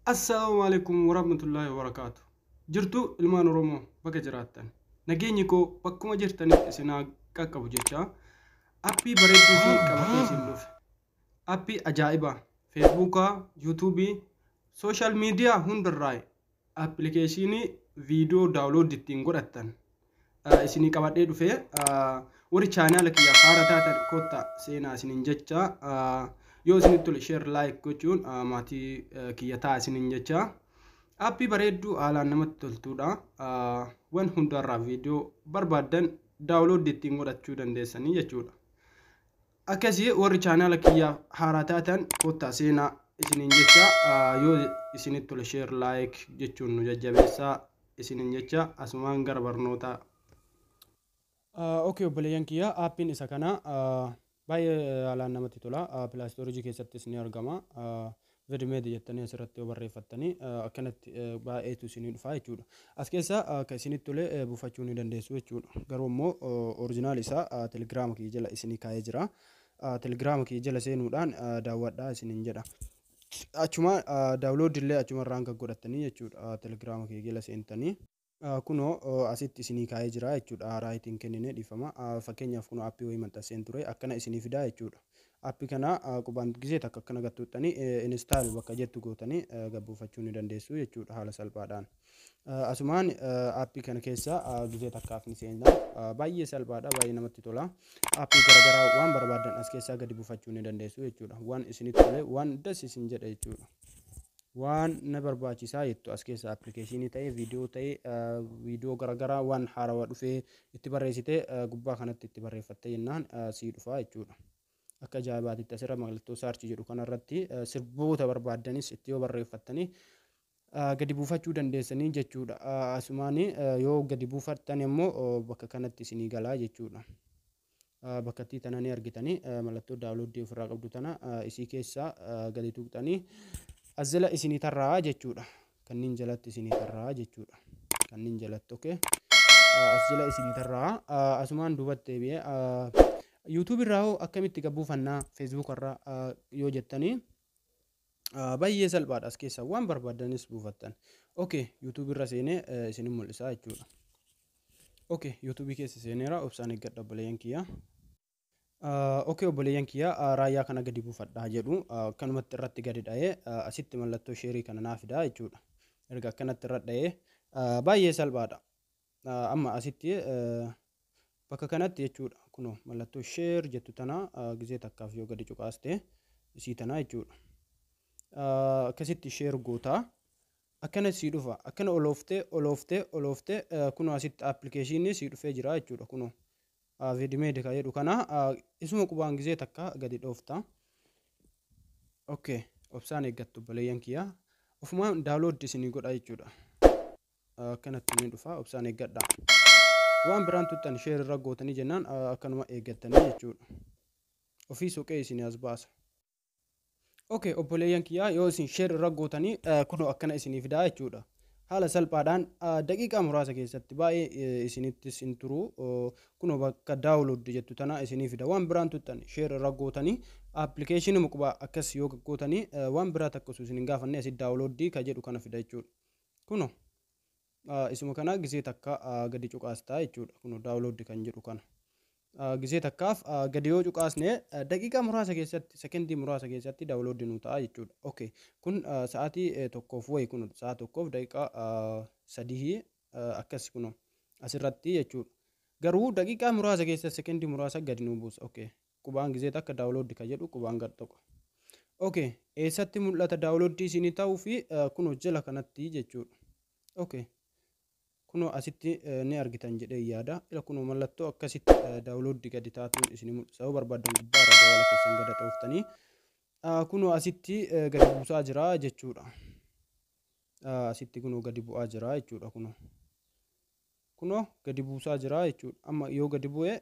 Assalaamu alaikum warahmatullaahi wabarakaatu. Jirtu ilmaan Oromoo bakka jiraattan. Nageenyi koo bakkuma jirtanitti isin haa qaqqabu jecha appii bareedduu fi qabatee isin dhufe. Appii ajaa'ibaa Feesbuukaa, Yuutuubii, sooshaal miidiyaa hundarraa Appilikeeshiinii viidiyoo daawlooddi ittiin godhattan isinii qabadhee dhufe. Warri chaanaala kiyyaaf haara taatan kottaa seenaa isinin jecha. Yoo isinitti tole share like gochuun maatii kiyya ta'a isinin jecha. Appii bareedduu haalaan namatti toltuudha. Wan hundarraa viidiyoo barbaaddan daawlooddi ittiin godhachuu dandeessanii jechuudha. Akkasi warri chaanaala kiyyaaf haaraa taatan kottaa seenaa isiniin jecha yoo isinitti tole share like jechuun nu jajjabeessaa isiniin jecha asumaan gara barnootaa. Okay obboleeyyan kiyya aappiin isa kana baay'ee haalaan namatti tola pilaastoorijii keessattis ni argama Vidmedi jettanii asirratti yoo barreeffattanii akkanatti baay'eetu isinii dhufaa jechuudha. As keessaa akka isinitti tole buufachuu ni dandeessu jechuudha. Garuu immoo orijinaal isaa telegiraama kiyya jala isinii kaa'ee jira. Telegiraama kiyya jala seenuudhaan daawwadhaa isiniin jedha. Achuma daawuloodii illee achuma irraan gaggodhattanii jechuudha. Telegiraama kiyya jala seentanii. Kunoo asitti isinii kaa'ee jira jechuudha right hin kennine dhiifama fakkeenyaaf kunoo appii wayii maxxanseen ture akkana isinii fidaa jechuudha appi kana qubaan gisee takka akkana gattuuttanii install bakka jettu gootanii gabbuufachuu ni dandeessu jechuudha haala salphaadhaan asumaan appii kana keessa gisee takkaaf ni seenna baay'ee salphaadha baay'ee namatti tola appii garagaraa waan barbaadan as keessaa gadi buufachuu ni dandeessu jechuudha waan isinitti tole waan das isin jedha jechuudha Waan na barbaachisaa jettu as keessa appilikeeshinii ta'ee, viidiyoo ta'ee, viidiyoo garaagaraa waan haarawaa dhufee itti barreessitee gubbaa kanatti itti barreeffattee jennaan sii dhufaa jechuudha. Akka ajaa'ibaatitti asirra mallattoo saarchi jedhu kanarratti sirboota barbaaddanis itti yoo barreeffattanii gadi buufachuu dandeessanii jechuudha. Asumaan yoo gadi buufattan immoo bakka kanatti isinii galaa jechuudha. bakkattii tana ni argitanii mallattoo daawloddii ofirraa qabdu tana isii keessaa gadi tuqxanii azela isinii tarraa jechuudha kanniin jalatti isinii tarraa jechuudha kanniin jalatti okee azela isinii tarraa asumaan duubatti deebi'ee yuutuub irraa hoo akkamitti gabbuu fannaa feesbuuk irraa yoo jettanii Baay'ee salphaadha as keessaa waan barbaaddanis buufattan. Okay, YouTube irra seenee isinin mul'isaa jechuudha. Okay, YouTube keessa seeneera obsaan eeggadha obboleeyyan kiyyaa. Okay, obboleeyyan kiyyaa raayyaa kana gadi buufadhaa jedhu akkanumatti irratti gadi dha'ee asitti mallattoo sheerii kana naa fidaa jechuudha. Erga akkanatti irra dha'ee baay'ee salphaadha. Amma asitti bakka kanatti jechuudha kunoo mallattoo share jettu tana gizee takkaaf yoo gadi cuqaaste isii tana jechuudha. Akkasitti share gootaa akkana sii dhufa akkana olooftee olooftee olooftee kunoo asitti appilikeeshinii sii dhufee jira jechuudha kunoo. Vidimeedi ka jedhu kana isuma qubaan gizee takka gadi dhoofta. Okay obsaan eeggattu obboleeyyan kiyya ofumaan daawlooddi isinii godha jechuudha. akkanatti ni dhufa obsaan eeggadha waan biraan tuttan sheer irra gootanii jennaan akkanuma eeggattanii jechuudha ofii soqee isin as baasa ok obboleeyyan kiyyaa yoo isin sheer irra gootanii kunoo akkana isinii fidaa jechuudha haala salphaadhaan daqiiqaa muraasa keessatti baay'ee isinittis hin turu kunoo bakka daawulood jettu tana isinii fida waan biraan tuttan sheer irra gootanii appilikeeshinii muqbaa akkas yoo gootanii waan biraa takka osoo isin hin gaafanne asi daawulooddii ka jedhu kana fida jechuudha Kuno isuma kana gisee takka gadi cuqaastaa jechuudha. Kuno download kan jedhu kana. Gisee takkaaf gadi yoo cuqaasne daqiiqaa muraasa keessatti sekendii muraasa keessatti download nu ta'a jechuudha. Okay. Kun sa'aatii tokkoof wayi kuno sa'a tokkoof daqiiqaa sadii akkas kuno asirratti jechuudha. Garuu daqiiqaa muraasa keessa sekendii muraasa gadi nu buusa. Okay. Qubaan gizee takka download ka jedhu qubaan gad xoqa. Ok eessatti mul'ata download isinii ta'uu fi kunoo jala kanatti jechuudha. Ok kunoo asitti ni argitan jedhee yaada. Ila kunoo mallattoo akkasitti download gadi taatuun isinii mul'isa. Yoo barbaaddan gubbaa irra jawala keessan gada xooftanii kunoo asitti gadi buusaa jira jechuudha. Asitti kunoo gadi bu'aa jira jechuudha kunoo. kunoo gadi buusaa jira jechuudha. Amma yoo gadi bu'e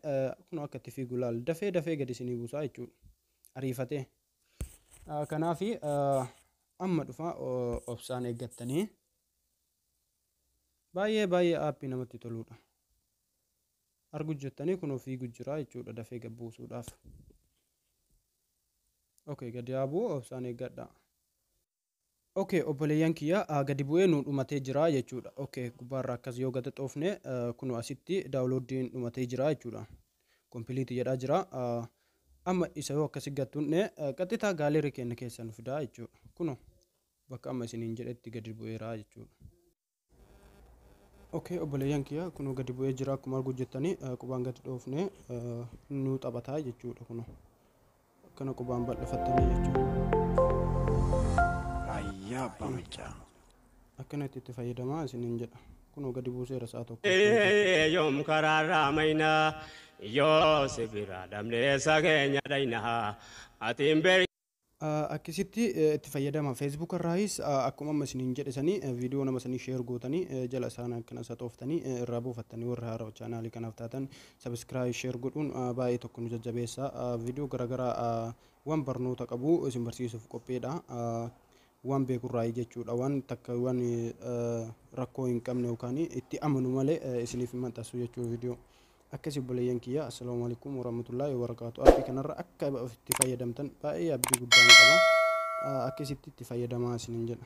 kunoo akka itti fiigu laal dafee dafee gadi isinii buusaa jechuudha. Ariifatee. Kanaaf amma dhufa obsaan eeggattanii baay'ee baay'ee aappii namatti toluudha. Argu jettanii kunoo fiigu jira jechuudha dafee gad buusuudhaaf. Okay gadi haa bu'u obsaan eeggadhaa. ok obboleeyyan kiyya gadi bu'ee nuu dhumatee jira jechuudha ok gubbaarra akkas yoo gada xoofne kunoo asitti daawulooddiin dhumatee jira jechuudha kompiliiti jedhaa jira amma isa yoo akkasi gattunne qaxxitaa gaaleerii keenya keessa nu fidaa jechuudha kunoo bakka amma isiniin jedhetti gadi bu'eera jechuudha. Okay obboleeyyan kiyya kunoo gadi bu'ee jira akkuma arguu jettanii eh, qubaan gadi dhoofne eh, nuu taphataa jechuudha kunoo akkana qubaan bal'ifattanii jechuudha Ayyaa abbaa maccaa. akkana itti itti fayyadamaa isiniin jedha kunoo gadi buuseera sa'a tokko Ee, yoom karaarraa maynaa yoo si biraa dhabnee isa keenya dhaynaa ati hin beektu. Akkisitti itti fayyadama Facebook irraayis akkuma amma isiniin jedhe sanii viidiyoo nama sanii share gootanii jala isaan akkana saxooftanii irraa buufattanii warri haarawa chaanaalii kanaaf taatan subscribe share godhuun baay'ee tokko nu jajjabeessa viidiyoo garaagaraa waan barnoota qabu isin barsiisuuf qopheedha waan beekurraayii jechuudha waan takka waan rakkoo hin qabne yookaan itti amanu malee isiniif hin maxxansu jechuudha viidiyoo. Akkasi obboleeyyan kiyya Assalamu alaikum warahmatullahi wabarakatuh Appi kanarra akka itti fayyadamtan baay'ee abdii guddaa ni qaba akkasitti itti fayyadamaa isinin jedha